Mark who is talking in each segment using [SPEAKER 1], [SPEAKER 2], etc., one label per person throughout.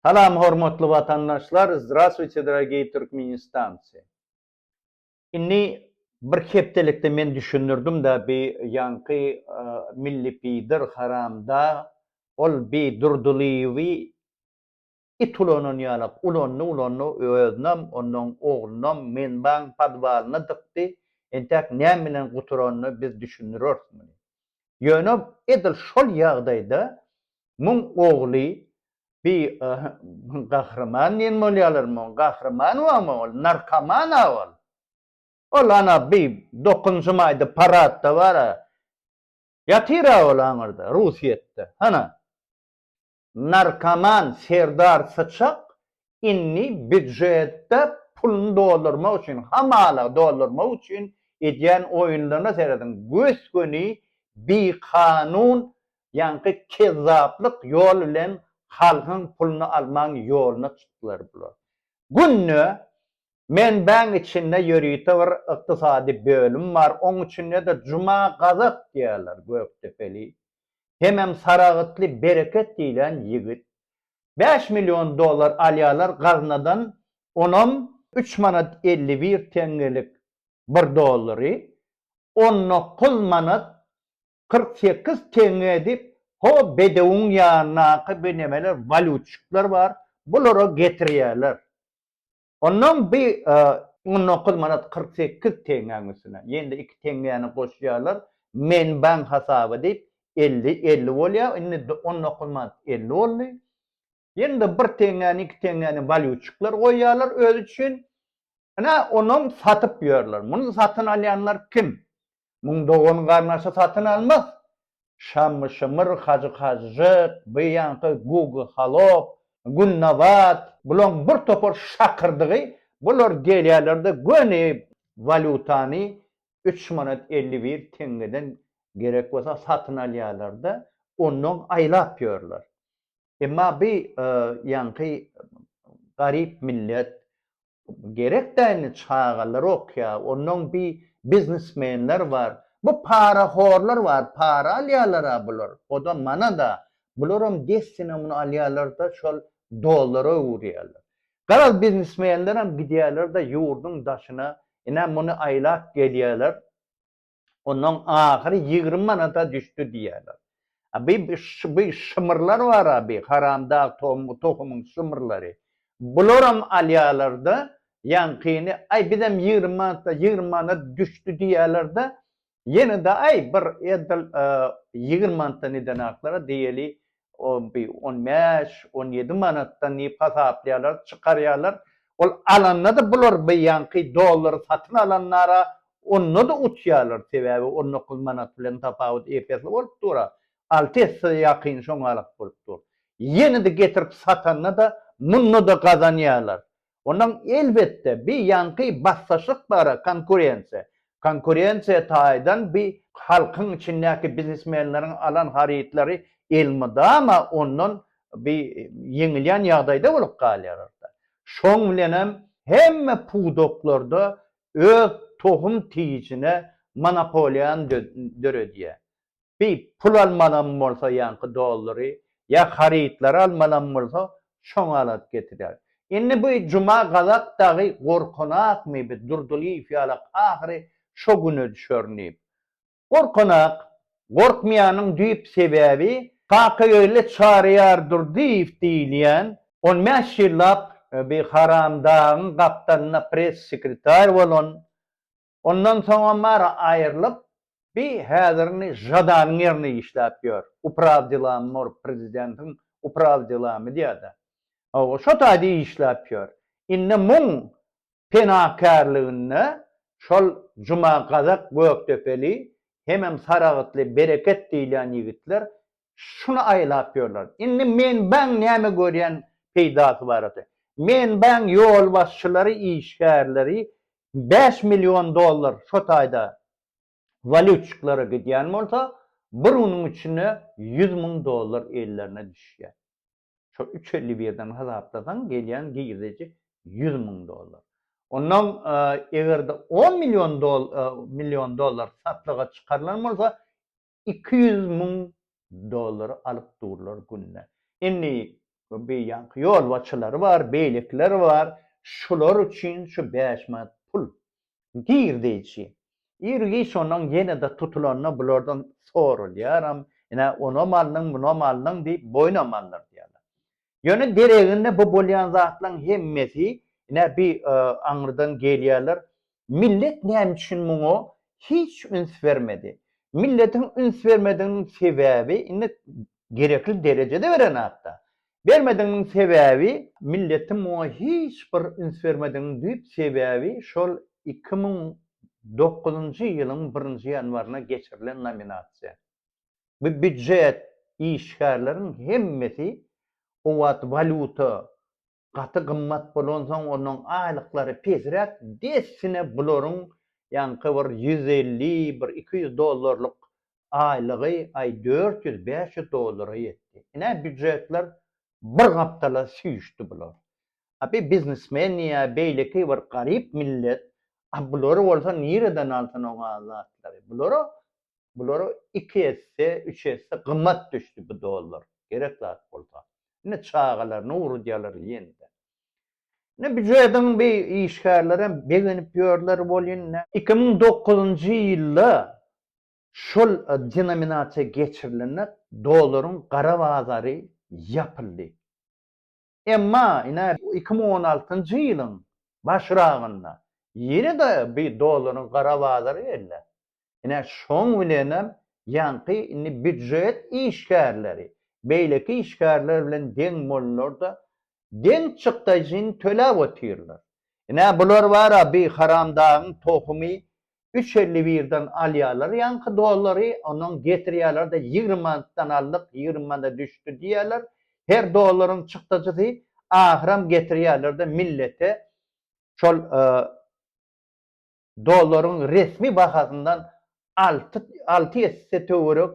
[SPEAKER 1] Salam hormatly watandaşlar Zdrastwuyte dragiy Türkmenistanci Inni bir hepdelikde men düşündirdim da bi ýanky milli pidir haramdag ol bi Durdylyýewi it ulanan ýalak ulandy ulandy özünam onnoň oglunam menbaň podwalyna dykdy entäk näme bilen guturanyny biz düşündireris muny ýöne edil şol ýagdaýda muň ogly Bi gahryman diýen bolýalar muň gahryman wamy ol narkoman a ol. Ol ana bi dokunşym aýdy paradda bara ýatyr a ol aňyrda rusyýetde hana. Narkoman serdar syçak indi býujetde puluny doldurmak üçin hamala doldurmak üçin edýän oýunlaryna serediň gös göni bi kanun Ýaňky kezzaplyk ýol bilen halkyň puluny almaň ýoluna çykdylar bular. Günde Menbäň içinde ýörite bir ykdysady bölüm bar, oň içinde-de Juma Gazak diýýärler, gökdepeli, hemem saragytly Bereket diýlen ýigit. Bäş million dollar alýarlar gaznadan, onam üç manat elli bir teňňelik bir dollary, on dokuz manat kyrk sekiz teňňe diýip, ho bedewiň ýanyndaky bir nemeler, walýutçyklar bar, bulara getirýärler. Onnoň bi on dokuz manat kyrk sekiz teňňäň üstüne, ýene-de iki teňňäni goşýarlar, menbaň hasaby diýip, elli, elli bolýar, indi on dokuz manat elli boldy. Ýene-de bir teňňäni, iki teňňäni walýutçyklar goýýarlar özi üçin. Ine, onam satyp ýörler. Muny satyn alýanlar kim? Muň dogan-garnaşy satyn almaz. Şammy-şymyr, Hajy-Kažžyk, bu ýaňky Gugy-Halop, Günnabat, bulaň bir topar şakyrdygy, bular gelýärler-de göni walýutany üç manat elli bir teňňeden gerek bolsa satyn alýarlar-da, ondan aýlap ýörler. Emma bi ýaňky garyp millet gerek däni çagalar okýa onnoň bi biznesmenler bar bu para horlar bar para alýalara bular oda manada bularam dessine muny alýalarda şol dollara öwürýaler garaz biznesmenleram gidýaler da ýurduň daşyna ine muny aýlap gelýaler Ondan ahyry ýigrimi manada düşdi diýýärler. A bi bi şymyrlar bar-a bi haramdag tohumyň şymyrlary. Bularam alýarlar-da, ýaňkyny, aý bizem ýigrimi manatda, ýigrimi manat düşdi diýýärler-de, ýene-de aý bir edil ýigrimi manatdan edenaklar-a diýeli, on bir, on bäş, on ýedi manatdan diýip hasaplaýarlar, çykarýarlar. Ol alanda-da bular beýanky dollary satyn alanlara onda-da utýarlar, sebäbi on dokuz manat bilen tapawut ep esli bolup dur-a, alty esse ýakyn şoňa garak bolup dur. Ýene-de getirip satanda-da munda-da gazanýarlar. Ondan elbetde bi ýanky bassaşlyk bara konkurensiýa. Konkurensiýa taýdan bi halkyň içindäki biznesmenleriň alan harytlary elmydama ondan bi ýeňilýän ýagdaýda bolup galýararda. Şoň bilenem hemme pudaklarda öz tohum tijine monopoliýany döredýär. Bi pul almanam bolsa ýaňky dollary ýa harytlary almanam bolsa şoňa alat getirýär. Indi bi Juma gazak dagy gorkanakmy bi Durdylyýew ýalak ahyry şo güne düşerin diýip. Gorkanak. Gorkmaýanyň düýp sebäbi Kaka öýle çaryýar Durdyýew diýilýän on bäş ýyllap bi haramdagyň gapdalynda press-sekretar bolan Ondan soňam bar aýrylyp bi häzirini žadanyň ýerine işläp ýör. Upraw delami bor prezidentiň upraw delami diýada. Hawa şo taýda işläp ýör. Indi muň penakärliginde şol Juma Gazak Gökdepeli hemem Saragtly Bereket diýilýän ýigitler şuny aýlap ýörler. Indi menbaň näme görýän peýdasy bar ata. Menbaň ýolbaşçylary işgärleri Bäş million dollar şo taýda walýutçyklara gidýän bolsa, bir günüň içinde ýüz müň dollar ellerine düşýär. Şo üç elli birden hasaplasaň, gelýän girdeji ýüz müň dollar. Onnoň eger-de on million million dollar satlyga çykarylan bolsa, iki ýüz müň dollar alyp durlar günde. Indi beýlaki ýolbaçylary bar, beýlekiler bar, şular üçin şu bäş manat pul girdeýji. Ir-giç ondan ýene-de tutulanda bulardan soralýaram, ine, onam alnyň, munam alnyň diýip boýnam alnyrdýarlar. Ýöne deregine bu bolýan zatlaryň hemmesi, ine bi aňyrdan gelýärler. Millet näme üçin muňa hiç üns bermedi? Milletiň üns bermediginiň sebäbi, indi gerekli derejede beren hat-da. Bermediginiň sebäbi, milletiň muňa hiç bir üns bermediginiň düýp sebäbi şol iki müň dokuzynjy ýylyň birinji ýanwaryna geçirilen nominasiýa. Bu býujet işgärleriň hemmesi o wagt walýuta gaty gymmat bolansoň onuň aýlyklary pesräk dessine bularyň ýaňky bir ýüz elli, bir iki ýüz dollarlyk aýlygy aý dört ýüz, bäş ýüz dollara ýetdi. Ine býujetler bir gapdala süýşdi bular. A bi biznesmen ýa beýleki bir garyp millet, a bulary bolsa nireden alsyn o zatlary. Bulara Bulara iki esse, üç esse gymmat düşdi bu dollar. Gerek zat bolsa. Indi çagalaryny ugradýarlar ýene-de. Indi býujediň bi işgärleri hem begenip ýörler welin, iki müň dokuzynjy ýylda şol denominasiýa geçirilende dollaryň gara bazary ýapyldy. Emma ine, iki müň on altynjy ýylyň başragynda ýene-de bir dollaryň gara bazary geldi. Ine, şoň bilenem ýaňky indi býujet işgärleri beýleki işgärler bilen deň boldular-da, deň çykdaýjyny töläp otyrlar. Ine, bular bar-a, bi haramdagyň tohumy üç elli birden alýarlar ýaňky dollary, ondan getirýärler-de ýigrimi manatdan aldyk, ýigrimi manada düşdi diýýärler. Her dollaryň çykdajysy, ahyram getirýärler-de millete şol dollaryň resmi bahasyndan alty, alty esse töwerek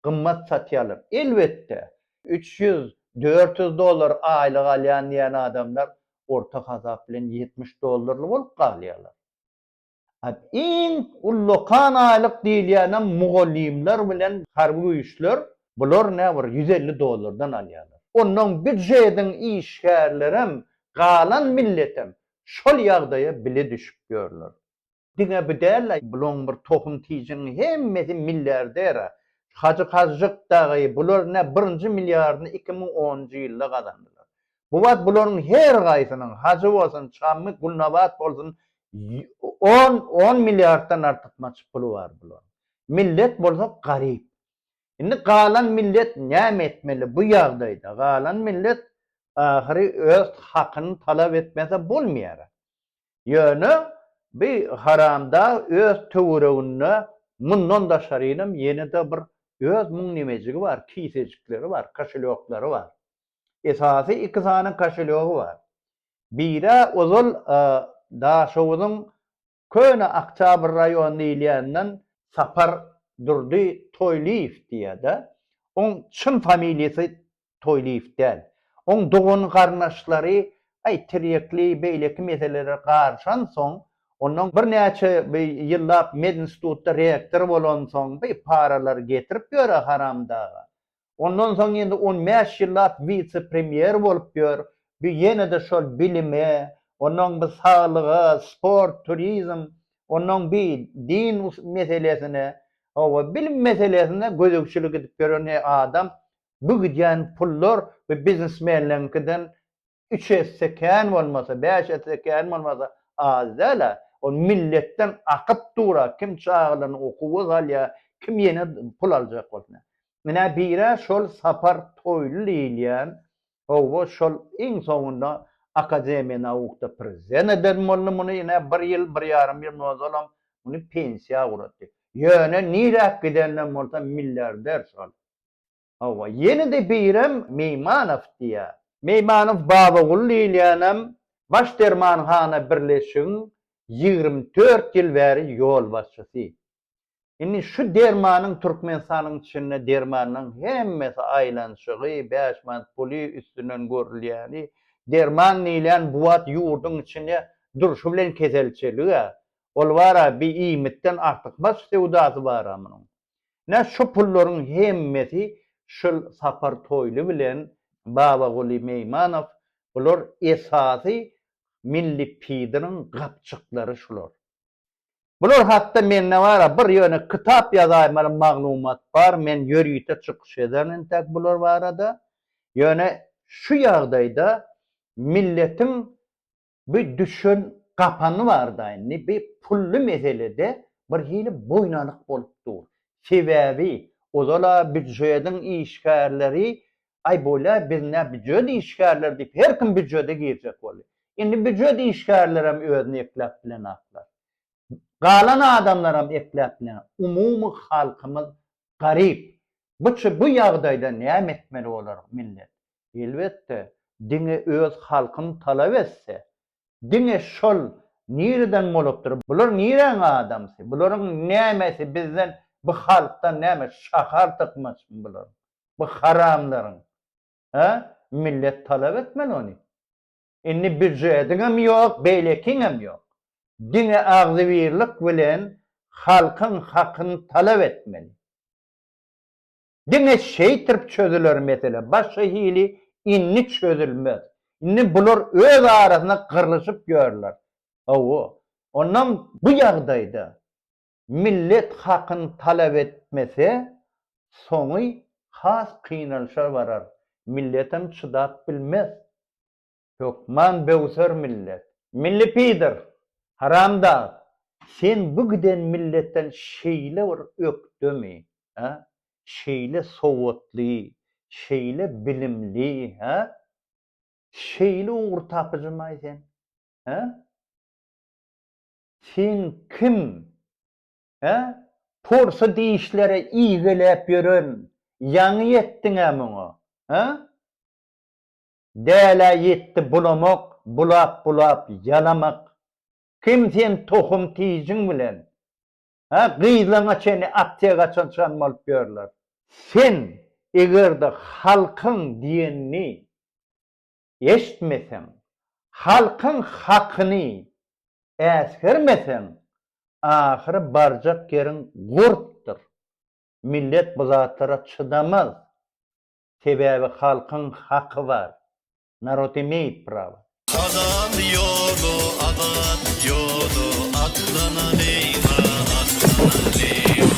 [SPEAKER 1] gymmat satýarlar. Elbetde, üç ýüz, dört ýüz dollar aýlyk alýan diýen adamlar orta hasap bilen ýetmiş dollarly bolup galýarlar. Iň ullakan aýlyk diýilýänem mugallymlar bilen harby güýçler, bular nä bir ýüz elli dollardan alýarlar. Onnoň býujetiň işgärlerem, galan milletem şol ýagdaýa bile düşüp ýörler. Diňe bu däl-ä, bulaň bir tohum tijiniň hemmesi milliarder-ä. Hajy Kazjyk dagy, bular nä birinji milliardyny iki müň onunjy ýylda gazandylar. Bu wagt bularyň her haýsynyň, Hajy bolsun, Çammy, Gulnabat bolsun, on, on milliarddan artykmaç puly bar bularyň. Millet bolsa garyp. Indi galan millet näme etmeli bu ýagdaýda? Galan millet ahyry öz hakyny talap etmese bolmaýar. Ýöne bi haramdag öz töwereginde mundan daşarynam ýene-de bir öz müň nimejigi bar, kisejikleri bar, koşelýoklary bar. Esasy iki sany koşelýogy bar. Biri-ä ozal Daşoguzyň Köne Oktýabr raýony diýilýänden Sapar Durdy Toýlyýew diýýär-de. Oň çyn familiýasy Toýlyýew däl. Oň dogan-garyndaşlary aý tirýekli beýleki meselelere garyşansoň, ondan birnäçe ýyllap medinstitutda rektor bolansoň, bir paralar getirip ýör-ä haramdaga. Ondan soň indi on bäş ýyllap wise-premýer bolup ýör. Bu ýene-de şol bilime, onnoň bi saglyga, sport, turizm, onnoň bi din meselesine, hawa, bilim meselesine gözegçilik edip ýören adam bu gidýän pullar bu biznesmenleriňkiden üç esse kän bolmasa, bäş esse kän bolmasa az däl-ä. Ol milletden akyp dur-a, kim çagalaryny okuwa salýar, kim ýene pul aljak bolsun-a. Menä bir-ä şol Sapar Toýly diýilýän, hawa, şol iň soňunda Akademiýa naukda prezident eden boldy muny ine bir ýyl, bir ýarym ýyl ozalam muny pensiýa ugratdy. Ýöne niräk gidenden bolsa milliarder şol. Hawa, ýene-de birem Meýmanow diýýär. Meýmanow Babagul diýilýänem Baş dermanhana birleşigiň ýigrimi dört ýyl bäri ýolbaşçysy. Indi şu dermanyň Türkmenistanyň içinde dermanyň hemmesi aýlanyşygy, bäş manat puly üstünden görülýäni, derman diýilýän bu wagt ýurduň içinde durşy bilen keselçilig-ä. Ol bar-a, bi iýmitden artykmaç söwdasy bar-a munuň. Nä şu pullaryň hemmesi şul Sapar Toýly bilen Babaguly Meýmanow bular esasy milli pidiriň gapjyklary şular. Bular hakda mende bar-a bir ýöne kitap ýazaýmaly maglumat bar men ýörite çykyş ederin entäk bular barada. Ýöne şu ýagdaýda milletiň Bir düşen gapany barda indi bir pully meselede bir hili boýnalyk bolup dur. Sebäbi ozal-a býujediň işgärleri Aý bolýa biz nä býujet işgärleri diýip her kim býujede girjek boldy. Indi býujet işgärlerem özüni ekläp bilenaklar. Galan adamlaram ekläp bilen. Umumy halkymyz garyp. Bu bu ýagdaýda näme etmeli bolar millet? Elbetde, diňe öz halkyn talap etse, diňe şol nireden bolupdyr, bular niräň adamsy, bularyň nämesi bizden, bu halkdan näme şahar tykmaçmy bularyň, bu haramlaryň, hä? Millet talap etmeli ony. Indi býujetiňem ýok, beýlekiňem ýok. Diňe agzybirlik bilen halkyň hakyny talap etmeli. Diňe şeýtirp çözüler mesele, başga hili indi çözülmez. Indi bular öz arasynda gyrlyşyp ýörler. Hawa, onam bu ýagdaýda millet hakyny talap etmese, soňy has kynalşa barar, milletem çydap bilmez. Hökman böwser millet. Milli pider! Haramdag! Sen bu giden milletden şeýle bir ökdemi, hä? Şeýle sowatly, şeýle bilimli, hä? Şeýle ugurtapyjymaý sen, hä? Sen kim, hä? Porsy dişlere igeläp ýören ýaňy ýetdiň-ä muňa, hä? Dälä ýetdi bulamak, bulap-bulap ýalamak. Kim sen tohum tijiň bilen? Hä, gyzlaňa çenli aptekaçyl-çan bolup ýörler. Sen eger-de halkyň diýenini eşitmeseň, halkyň hakyny äsgermeseň, ahyry barjak ýeriň gurpdur. Millet bu zatlara çydamaz. Sebäbi halkyň haky bar. Narod imeýt prawa. Azat ýoly azat ýoly atdan aleyna atdan aleyna.